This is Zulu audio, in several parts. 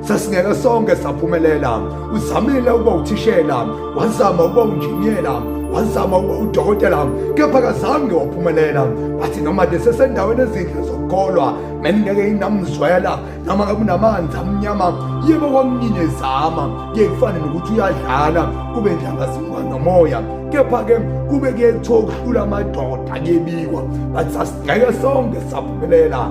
Sasingeke sonke saphumelela. Uzamile ukuba uthishela, wazama ukuba unjiniyela, wazama ukuba udokotela, kepha kazange waphumelela. Wathi noma nje sesendaweni ezinhle zokukholwa, bengingeke inamzwela noma ngabe unamanzi amnyama yebo kwamnyinye zama kuye kufane nokuthi uyadlala kube ndlangazimuka nomoya kepha-ke kube kuyethiwa ukuhlula amadoda kuyebikwa bathi sasigceke sonke saphumelela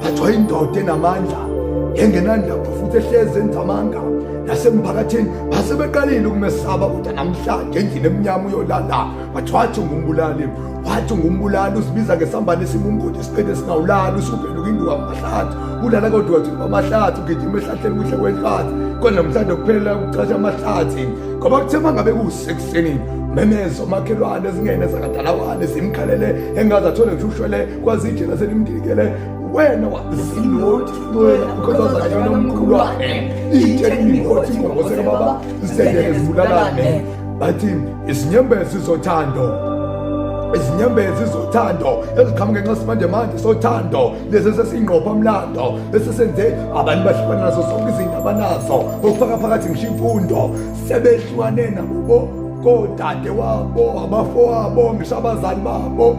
Phathwa indoda enamandla engenandaba futhi ehlezi enza amanga nasemphakathini basebeqalile ukumesaba kodwa namhlanje endlini emnyama uyolala bathi wathi ungumbulali wathi ungumbulali uzibiza ngesambane esimumgodi isiqede esingawulali usuvele ukinduka amahlathi ulala kodwa wathi amahlathi ugijima ehlahleni kuhle kwenhlathi kodwa namhlanje kuphelela ukucasha amahlathi ngoba kuthe uma ngabe kuwusekuseni memezo makhelwane zingene zakadalawane zimkhalele engazathole ngisho ushwele kwazi nje ngase nimdilikele wena wasinoti wena ukhozazanyana omkhulu wakhe itshe lingoti ngokoseka baba zidedele zibulalane bathi izinyembezi zothando izinyembezi zothando eziqhamuke nxa simanje manje sothando lezi esesingqopha umlando esesenze abantu bahlukana nazo zonke izinto abanazo okufaka phakathi ngisho imfundo sebehlukane nakubo kodade wabo abafowabo ngisho abazali babo